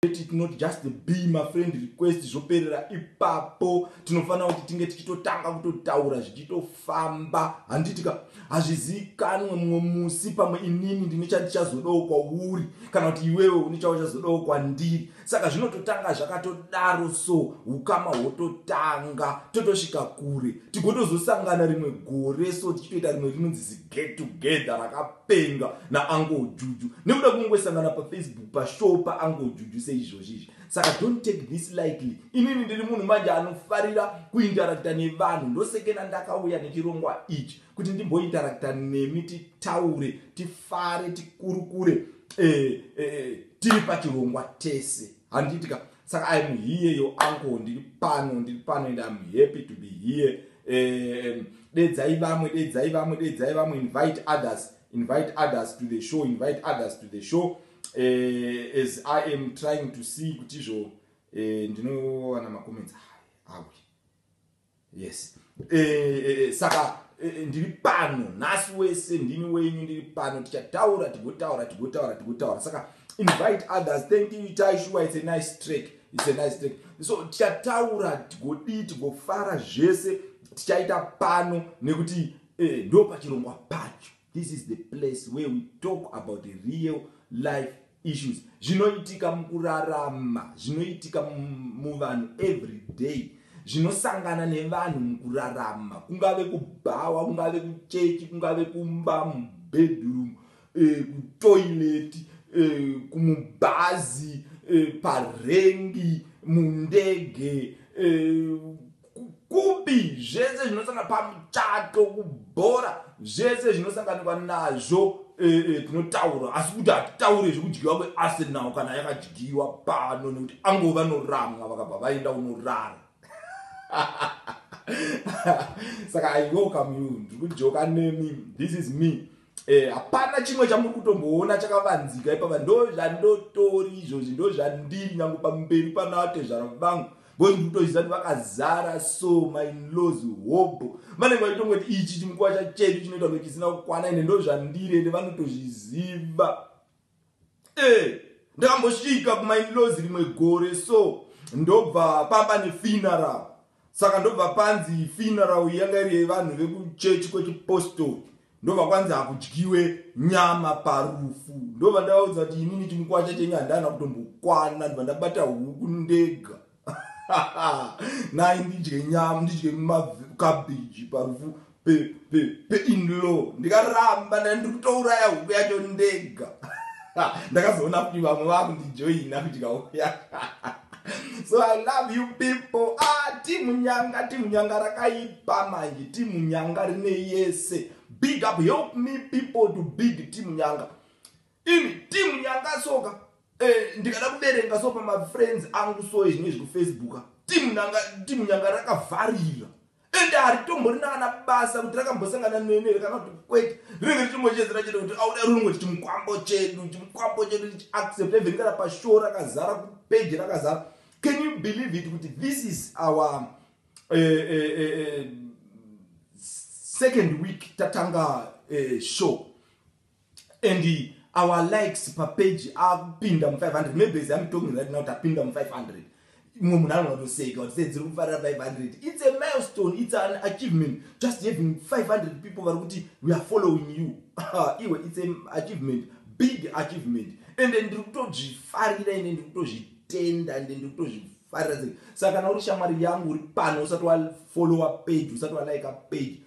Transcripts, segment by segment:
let it not just be mafriend request zvoperera ipapo tinofanira kuti tinge tichitotanga kutotaura zvichitofamba handitika hazvizivikanwe mumwe musi pamwe inini ndine chandichazodawo kwauri kana kuti iwewe une chauchazodawo kwandiri saka zvinototanga zvakatodaro so ukama hwototanga totosvika kure tigotozosangana rimwe gore so tichitoita rimwe rinonzi get together rakapenga naangle juju nekuda kungosangana pafacebook pashow paangle juju seizvozvi izvi saka don't take this lightly inini ndiri munhu manje anofarira kuinteracta nevanhu ndosekena ndakauya nechirongwa ichi kuti ndimbointeracta nemi titaure tifare tikurukure eh, eh, eh, tiri pachirongwa tese handiitika saka im here your uncle ndiri pano ndiri pano and im happy to be here um, dedzai vamwe dedzai vamwe dedzai vamwe invite others invite others to the show invite others to the show uh, as i am trying to see kuti izvo uh, ndinowana makoments awi yes e, e, saka e, ndiri pano nhasi wese ndini wenyu ndiri pano tichataura tigotaura tigotaura tigotaura saka invite others thank you itai shuwa it's a nice track it's a nice track so tichataura tigodii tigofara zvese tichaita pano nekuti e, ndo pachirongwa pacho This is the place where we talk about the real life issues zvinoitika mukurarama zvinoitika muvanhu every day zvinosangana nevanhu mukurarama kungave kubhawa kungave kuchechi kungave kumba mubedroom eh, kutoilet eh, kumubhazi eh, parengi mundege eh, kukubi zvese zvinosanga pamuchato kubhora zvese zvinosanganikwa nazvo e, e, tinotaura asi kuti hatitaure zvekudyiwa kwearsenal kana yakadyiwa pano nekuti ango vanoramwa vakabva vaenda unorara saka i welcome you ndiri kujoka nemi this is me Eh, hapana chimwe chamuri kutomboona chakavanzika ipapa ndo zvandotori izvozvi ndo zvandiri nyange pamberi panavatezvara vangu bcause ndiri kutoziva kuti vakazara so mainlos hobho vanenge vachitongoti ichi chimukuva chachedu chinoita kunge chisina kukwana ende ndo zvandiri ende vanotozviziva Eh, ndakambosvika kumainlaws rimwe gore so ndobva paba nefuneral saka ndobva panzi funeral yanga iri yevanhu vekuchechi kwechipostori ndobva kwanzi hakudyiwe nyama parufu ndobva ndavaudza kuti inini chimukwacha chenyu handana kutombokwana ndobva ndabata huku ndega nai ndidye nyama ndidye makabhiji parufu peinlaw ndikaramba nda ndiri kutouraya huku yacho ndega ndakazoona kuti vamwe vakundijoina kuti kauya so i love you people ah timu nyanga timu nyanga rakaipa manje timu nyanga rine yese big up help me people to big timu nyanga ini team yanga soka eh, ndikada kuverenga so pamafriends angu so izvinye zvekufacebook team nanga team yanga rakavharira and haritomborina kana basa kuti rakambosangana nenere kana kuti kwete rinenge richimbochezera chete kuti auda runungo chiti mukwambo chedu chimukwambo chedu chiaccept even kana pashow rakazara kupeji rakazara can you believe it kuti this is our uh, uh, uh, second week tatanga uh, show and our likes papage akupinda mu 500 maybe as I'm talking right now tapinda mu 500 imwe munhu anotoseka kuti sei dziri kufarira 500 it's a milestone it's an achievement just having 500 people vari kuti we are following you iwe it's an achievement big achievement and ndiri kutozvifarira ende ndiri kutozvitenda ende ndiri kutozvifarira sei saka kana uri shamwari yangu uri pano usati wafollowa page usati walaika page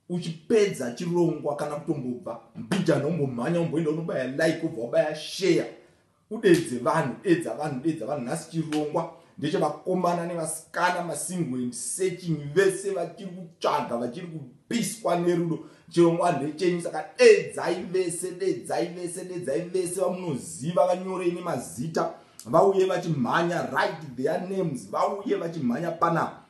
uchipedza chirongwa kana kutombobva mbijana umbomhanya umboenda unobaya like ubva wabaya share udedze vanhu dedza vanhu dedza vanhu nhasi chirongwa ndechevakomana nevasikana masingo and searching vese vachiri kutsvaga vachiri kupiswa nerudo chirongwa ndechenyu saka dedzai vese dedzai vese dedzai vese vamunoziva vanyorei nemazita vauye vachimhanya right their names vauye vachimhanya panapa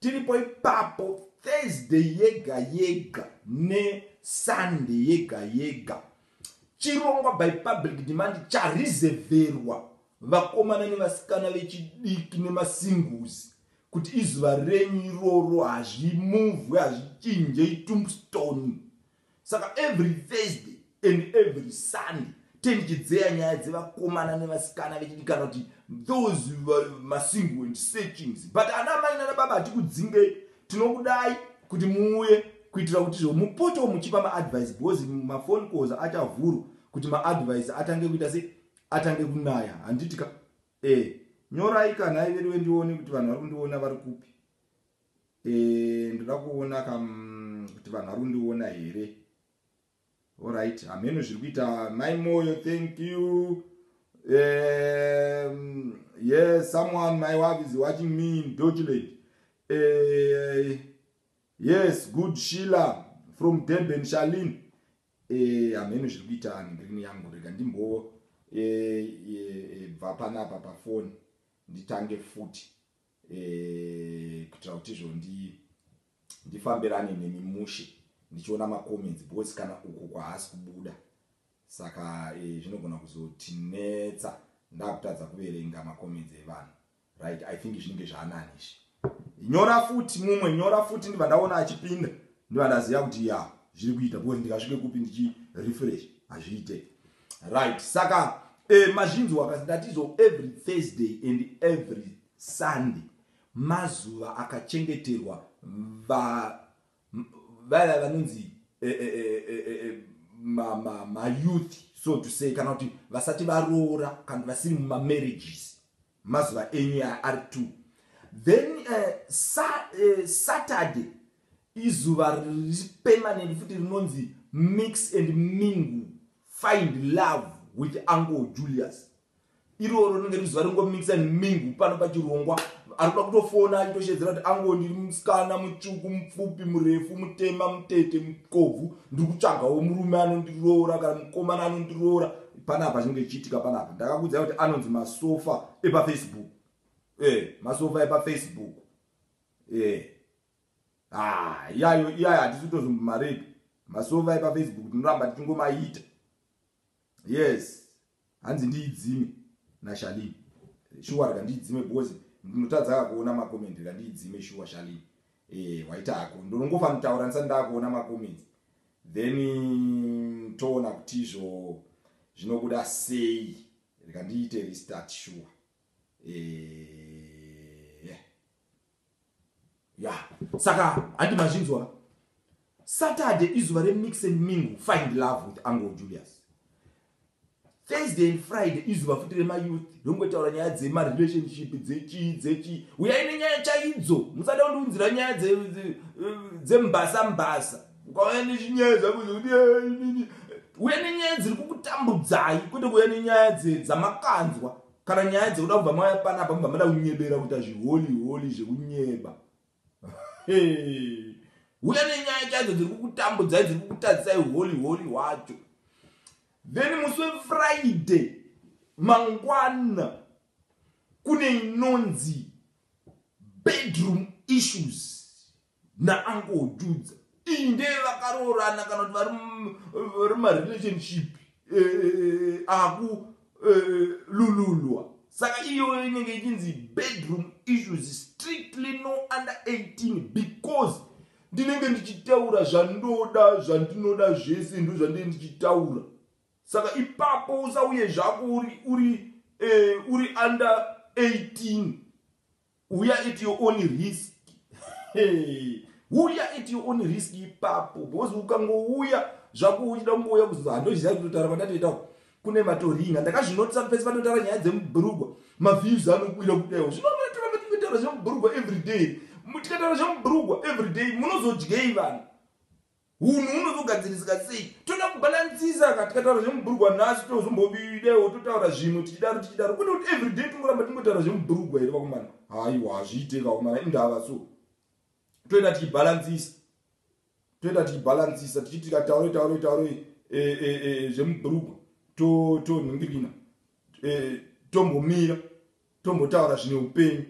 Tiripo ipapo Thursday yega yega ne Sunday yega yega. Chirongwa by public demand chareserverwa vakomana nevasikana vechidiki nemasinguzi kuti izuva renyu iroro hazvimuvwe hazvichinje itombstone Saka every Thursday and every Sunday tendichidzeya nyaya dzevakomana nevasikana vechidikana kuti those masingle and searchings but ana mai nana baba hatikudzingei tinokudai kuti muuye kuitira kuti zvo mupotewo muchipa maadvice because mafone calls achavhuru kuti maadvice atange kuita se atange kunaya handitika e eh, nyorai kana iveriwe ndione kuti vanhu vari kundiona vari kupi Eh, ndoda kuona ka mm, kuti vanhu vari kundiona here orit hameno zviri kuita mai moyo thank you um, yes someone my wife is watching me in document uh, eh, yes good sheila from durban shalin eh, hameno uh, zviri kuita ngirini yangu rega ndimbobva uh, uh, uh, panapa pafoni nditange futi eh, kuitira kuti izvo ndifambirane nemi mushe ndichiona macomments because kana uku kwahaasi kubuda saka eh, zvinogona eh, kuzotinetsa ndakutadza kuverenga macomments evanhu right i think zvinenge zvaanani izvi nyora futi mumwe nyora futi ndiva ndaona achipinda ndiva ndaziva kuti ya zviri kuita because ndikasvike kupi ndichirefresh hazviite right saka eh, mazvinzwa kasi ndatizo every thursday and every sunday mazuva akachengeterwa vaya vanonzi eh, eh, eh, eh, eh, eh mayouth ma, ma so to say kana kuti vasati varoora kana kuti vasiri mumamarriages Mazuva enyu ya ari two. Then uh, sa, uh, Saturday izuva riri permanent futi rinonzi mix and mingle find love with uncle Julius. Iroro rinenge rizuva ringo mix and mingle pano pachirongwa arikuda kutofona achitoshedzera kuti ango ndiri musikana mutsvuku mupfupi murefu mutema mutete mukobvu ndiri kutsvagawo murume anondiroora kana mukomana anondiroora panapa chinenge chichiitika panapa ndakakuudzai kuti anonzi masofa epafacebook e masofa epafacebook e ah, iyayo iyayo hatisi kutozombomarepi masofa epafacebook tinoramba tichingomaita yes hanzi ndiidzime nashalini shuwa rika ndiidzime because ndinotadzaka kuona makomendi rika ndiidzime shuwa shalini e waita hako ndonongofanira kutaura ndisati ndakuona makomendi then toona kuti izvo zvinobuda sei rikandiite restart shuwa eh, yeah. yeah. saka handi mazvinzwa saturday izuva remix and mingu find love with angle julius Thursday and Friday izuva futi rema youth rongotaura nyaya dzema relationship dzechii dzechii uyai nenyaya chaidzo musada kundiunzira nyaya dzembasa dze, dze mbasa ukauya nechinyaya zvako zvekuti eh, uya nenyaya dziri kukutambudzai kwete kuuya nenyaya dzamakanzwa kana nyaya dzekuda kubva mauya panapa mubva mada kunyebera kuita zviholi holi zvekunyeba huya nenyaya chaidzo dziri kukutambudzai dziri kukutadzisai holy holy hwacho then musi wefriday mangwana kune inonzi bedroom issues naangohududza iyi ndeye vakaroorana kana kuti vari mumarelationship eh, eh, eh, akulululwa saka iyoyo inenge ichinzi bedroom issues strictly no under 18 because ndinenge ndichitaura zvandoda zvandinoda zvese ndo zvandinenge ndichitaura saka ipapo usauye zvako uri uri eh, uri under 18 uya at your own risk hey. uya at your own risk ipapo because ukangouya zvako uchida kungouya kuzoza handozviziva kutotara pandatoita kune matoringa ndakazvinotisa pese panotara nyaya dzemubhurugwa maviews anokwira kudaiwo zvinomatara patingotaura zvemubhurugwa everyday tikataura zvemubhurugwa everyday munozodyei vanhu Hunhu hunozogadzirisika sei? Toda kubalansisa ka tikataura zvemubhurugwa nhasi tozombobidewo totaura zvimwe tichidaro tichidaro kwete kuti everyday tingoramba tingotaura zvemubhurugwa here vakomana haiwa hazviite vakomana indava so toenda tichibalansisa toenda tichibalansisa tichiti tikataure taure taure eh, eh, eh, zvemubhurugwa tonhingirina tombomira tombotaura zvine upenyu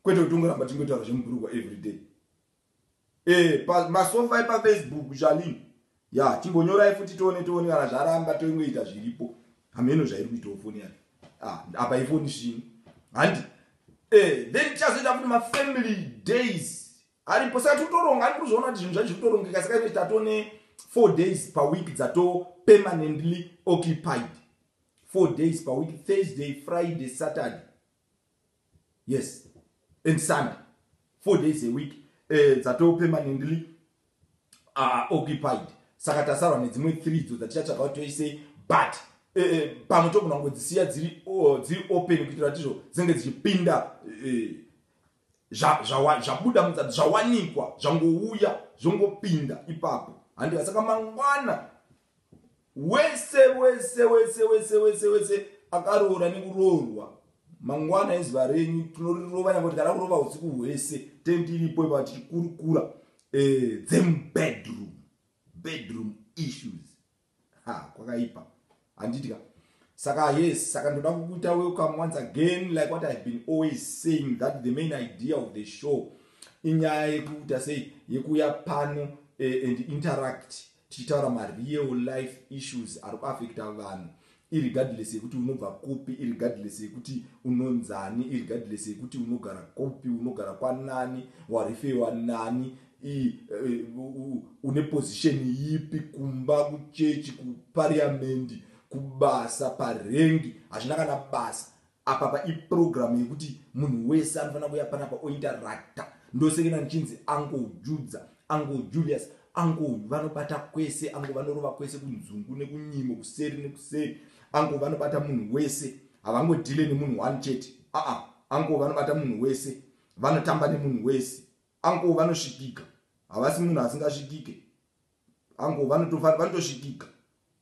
kwete kuti tingoramba tingotaura zvemubhurugwa everyday eh pa masofa epa facebook zvalim ya chimbonyorai futi tione tione kana zvaramba toingoita zviripo hameno zvairi kuitawo foni yake ah apa ifoni zvino handi eh then tichazoita futi mafamily days aripo saka tikutoronga ari kuzviona kuti zvinhu zvacho zvikutorongeka saka ine tatone four days per week dzato permanently occupied four days per week thursday friday saturday yes and sunday four days a week eh, dzatoo permanently uh, occupied saka tasarwa nedzimwe three dzo dzatichatsvaga kuti toisei but eh, eh, pamwe togona kungodzisiya dziri oh, dziri open kuitira kuti izvo dzinenge dzichipinda eh, zvabuda mudza zvawanikwa zvangouya zvongopinda ipapo handiva saka mangwana wese wese wese wese wese wese akaroora nekuroorwa mangwana ezuva renyu tinorirova nyakuti kana kurova usiku hwese ten tiripo ipa tichikurukura eh, them bedroom bedroom issues ha kwakaipa handitika saka yes saka ndoda kukuita welcome once again like what ihave been always saying that the main idea of the show inyaya yekuita sei yekuuya pano eh, and interact tichitaura mareal life issues ari kuafekta vanhu irregardless yekuti unobva kupi irregardless yekuti unonzani irregardless yekuti unogara kupi unogara kwanani warifewa nani eh, une position yipi kumba kuchechi kupariamendi kubasa parengi hazvina kana basa Apapa iprogram yekuti munhu wese anofanira kuuya panapa ointeracta ndosekena ndichinzi ango judza ango julius ango vanobata kwese ango vanorova kwese kunzungu nekunyimo kuseri nekuseri ango vanobata munhu wese havangodhile nemunhu one chete aa ango vanobata munhu wese vanotamba nemunhu wese ango vanosvikika havasi munhu asingasvikike angu vanotofana vanotosvikika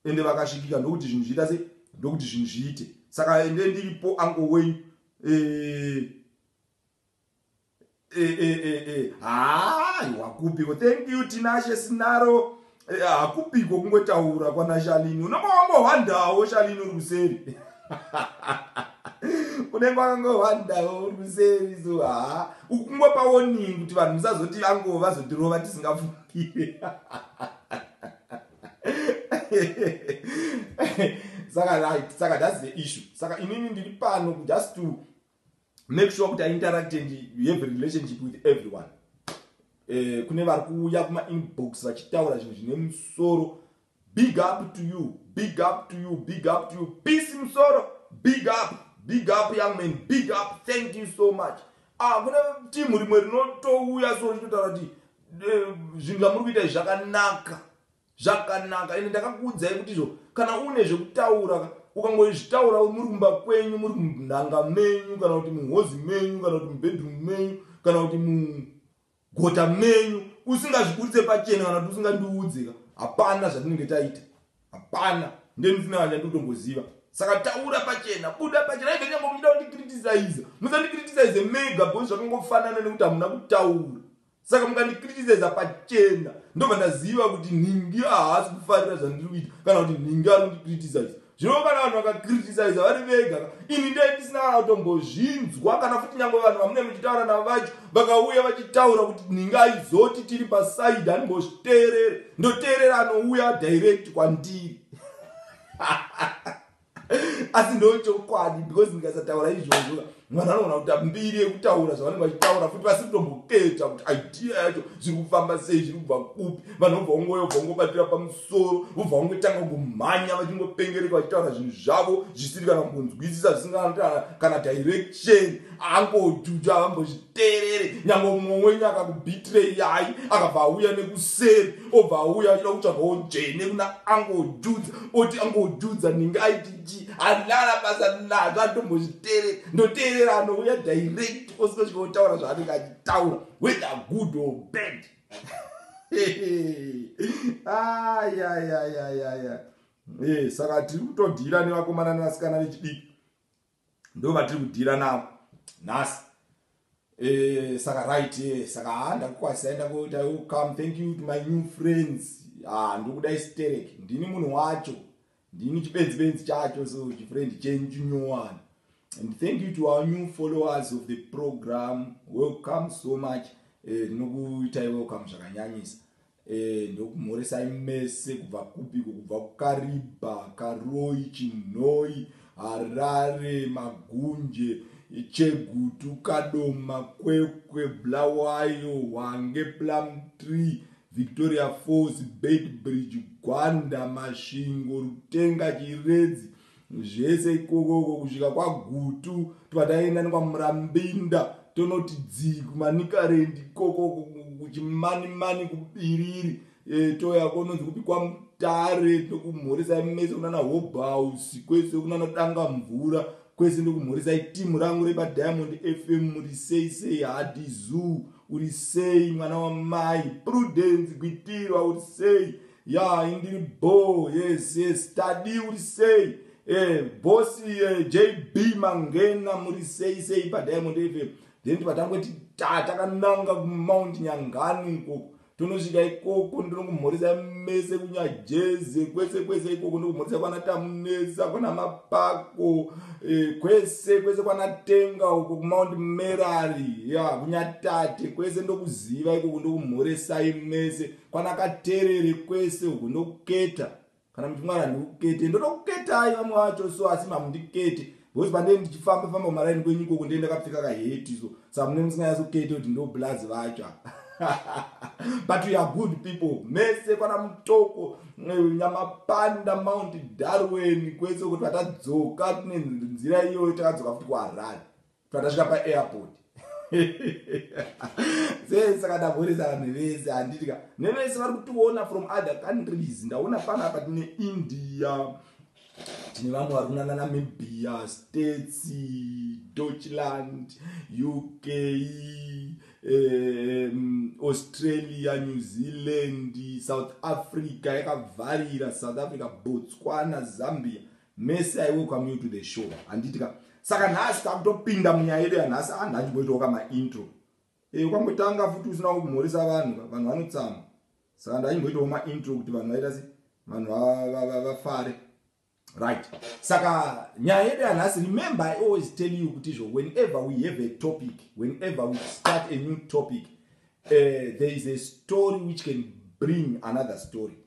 ende vakasvikika ndokuti zvinhu zviita se ndokuti zvinhu zviite saka ende ndiripo angu wenyu eh, eh, eh, haai wakupiko thank you tinashe sinaro hakupiko kungotaura kwanashalini unenge wangohwandawo shalini uri kuseri unenge wakangohwandawo uri kuseri so haa ukungopawoningi kuti vanhu musazoti vango vazotirova tisingafuni saka right saka that's the issue saka inini ndiri pano just to make sure kuti iinteract and you have a relationship with everyone eh, kune vari kuuya kumainbox vachitaura zvinhu zvine musoro Big up to you, big up to you, big up to you. Peace Musoro, big up, big up young man, big up. Thank you so much. Ah, kuna team rimwe rinotouya so rinotaura kuti eh, zvinhu zvamuri kuita zvakanaka. Zvakanaka. Ende ndakakuudzai kuti izvo kana une zvekutaura ukangozvitaura muri kumba kwenyu, muri munhanga menyu kana kuti muhozi menyu kana kuti mubedroom menyu kana kuti mu gota menyu usingazviburitse pachena kana kuti usingandiudze ka hapana zvatinenge taita hapana ndendisina kana chandinotongoziva saka taura pachena buda pachena even nyangwe muchida kundikritisaiza musandikritisaize mega bhozi zvakangofanana nekuti hamuna kutaura saka mukandikritisaiza pachena ndobva ndaziva kuti nhingi ahasi kufarira zvandiri kuita kana kuti nhingi ari kundikritisaiza zvino kana vanhu vakakritisaiza vari vega ini ndai ndisina kana kutombozvinzwa kana futi nyange vanhu vamune muchitaura navo vacho vakauya vachitaura kuti ndingaizoti tiri pasaidi andimbozviteerera ndoteerera anouya direct kwandiri asi ndochokwadi because ndikasataura izvozvo vanhu vanoona kuti ambiri yekutaura zvavanenge vachitaura futi vasiri kutomboketa kuti idea yacho zviri kufamba sei zviri kubva kupi vanhu vobva kungoyo bva kungobatira pamusoro vobva kungotanga kungomhanya vachingopengereka vachitaura zvinhu zvavo zvisiri kana kumbonzwisisa zvisingaa kana direction angojuja avambozviterere nyange umwe wenyu akakubitirei yai akabva auya nekuseri obva auya achida kutsvagawo njene kuna angojudza oti angojudza ningaiti ji handinana basa nazvo andombozviteerera ndoteerera anouya direct osiko chikotaura zvaanenge achitaura whether good or bad ayayayayaya eh, saka tiri kutodhira nevakomana nevasikana vechidiki ndo vatiri kudhira navo nhasi eh, saka right eh, saka ha ndakukwasisa enda koita yo come thank you to my new friends ha ndokudai sterek ndini munhu wacho ndini chibenzi benzi chacho so chifriend chenyu chinyowani and thank you to our new followers of the program welcome so much eh, ndinokuitai eh, welcome zvakanyanyisa Eh, ndokumhoresai mese kubva kupiko kubva kukariba karoi chinhoi harare magunje chegutu kadoma kwekwe blawayo hwange plum tree victoria falls bait bridge gwanda masvingo rutenga chiredzi zvese ikokoko kusvika kwagutu tobva taenda nekwamurambinda tonoti dzii kumanikarendi ikokoko kuchimanimani kubiriri e, toya kononzi kupi kwamutare tokumhoresai mese kunana hobhausi kwese kunana danga mvura kwese ndokumhoresai timu rangu repadiamond fm muri sei sei hadi zoo uri sei mwana wamai prudence gwitirwa uri sei ya indini bho yes yes tadi uri sei eh, bosi eh, jb mangena muri sei sei padiamond fm then tibva tangoti ta takananga kumount nyangani ikoko tonosvika ikoko ndinokumhoresa mese kunyajeze kwese kwese ikoko ndokumhoresa kwana tamunesa kwana mapako eh, kwese kwese kwana tenga uko kumount merari ya kunyatate kwese ndokuziva ikoko ndokumhoresai mese yeah, kwanaka terere kwese uku ndokuketa kana muti mwari handikukete ndotokuketai vamwe vacho so asi mamundikete because pandee ndichifamba famba maraini kwenyu ikoko ndee ndakapfeka kaheti so samune musinganyasokete kuti ndoblazi vacho but weare good people mese kwana mutoko eh, nyamapanda mount darwen kwese kuti vatadzoka tine nzira iyoyo takadzoka futi kuharare pandasvika paairport sesaka ndamhoresa vanhu vese handiti ka nevese vari kutiona from other countries ndaona fana apa tine india tine vamwe vari kunana namibia states deutschland uk um, australia new zealand south africa yakavharira south africa botswana zambia Mese I welcome you to the show handiti ka saka nhasi takutopinda munyaya yedu yanhasi a ah, ndanjimboitawo ka maintro e eh, ukangotanga futi usina kumhoresa vanhu vanhu vanotsama saka ndanyimboitawo maintro kuti vanhu vaita se vanhu vafare right saka nyaya yedu yanhasi remember i always tell you kuti izvo whenever we have a topic whenever we start a new topic uh, there is a story which can bring another story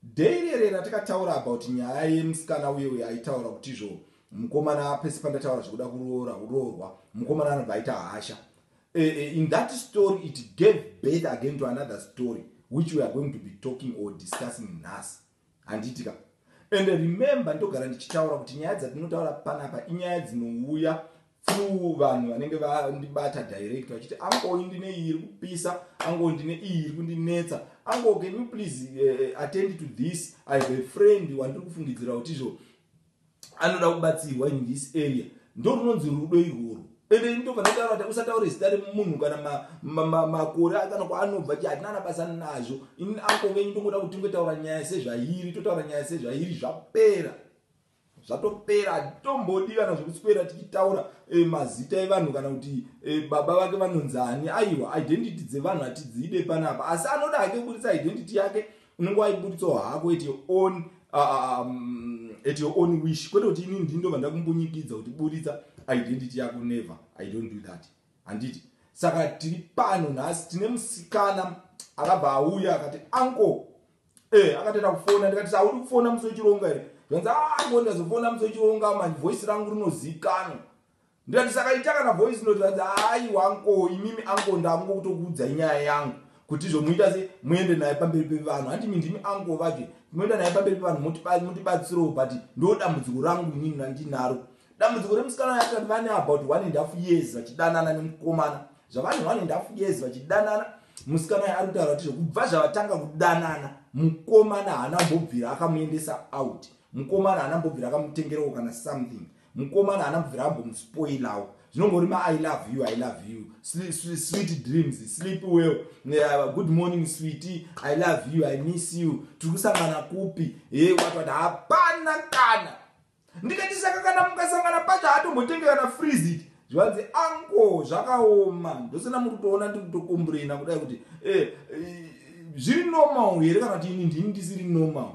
Day rere ratakataura about nyaya yemusikana uye uye aitaura kutizvo mukomana pese pandataura zvekuda kuroora uroorwa mukomana anobva aita hasha e, e, in that story it gave birth again to another story which we are going to be talking or discussing nhasi handiitika and remember ndogara ndichitaura kuti nyaya dzatinotaura panapa inyaya dzinouya few vanhu vanenge vandibata direct vachiti angoyi ndine iyi iri kupisa ango ndine iyi iri kundinetsa ango can you please uh, attend to this i have a friend wandiri kufungidzira kuti izvo anoda kubatsirwa in this area ndo runonzi rudo irworwo ende ini ndobva ndataura kuti usataure zita remunhu kana makore kana kwaanobva ti hatina anabasa nazvo ini ango venyu ndongoda kuti tingotaura nyaya sezvairi totaura nyaya sezvairi zvapera zvatopera hatitomboodi kana zvekuswera tichitaura e, mazita evanhu kana kuti e, baba vake vanonzi ani aiwa identity dzevanhu hatidziide panapa asi anoda hake kuburitsa identity yake unenge waiburitsawo hako at your own uh, um, at your own wish kwete kuti inini ndindo vandakumbunyikidza kuti buritsa identity yako never i don't do that handiti saka tiri pano nhasi tine musikana akabva auya akati anko Eh, akatoita kufona ndikati saudi kufona musi wechironga here zvanzi ango ah, ndazofona musi wechironga manje voice rangu rinozikanwa ndikati saka ita kana voice note zvanzi hayi wanko imimi anko ndakungo kutokuudzai nyaya yangu kuti zvomuita se muende naye pamberi pevanhu handi mi ndimi anko vaje moenda naye pamberi pevanhu motibatsirawo but ndo dambudziko rangu inini randinaro Dambudziko remusikana uyu akati vane about one and half years vachidanana nemukomana zvavane one and half years vachidanana musikana uyu ari kutaura kuti zvekubva zvavatanga kudanana mukomana haana mbobvira akamuendesa out mukomana haana mbobvira akamutengerewo kana something mukomana haana mbobvira ambomuspoilawo zvinongori ma i love you i love you sweet dreams sleep well uh, good morning sweety i love you i miss you tiri kusangana kupi he watwati hapana kana Ndikati saka kana mukasangana pacho haatombotenge kana freezit zvivanzi anko zvakaoma ndosena muri kutoona ndiri kutokomburena kudai kuti eh, eh, zviri normal here kana kuti ini ndini ndisiri normal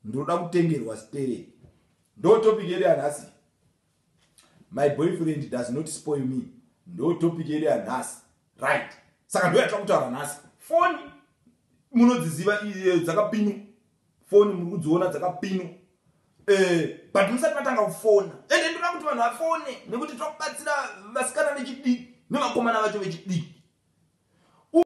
ndinoda kutengerwa stere ndo topic yedu yanhasi my boyfriend does not spoil me ndo topic yedu yanhasi right saka ndoyatira kutaura nhasi foni munodziziva dzakapinwa Phone muri kudziona dzakapinwa. Eh, but musati matanga kufona. Ende ndoda kuti vanhu vafone nekuti tiri kubatsira vasikana vechidiki nevakomana vacho vechidiki.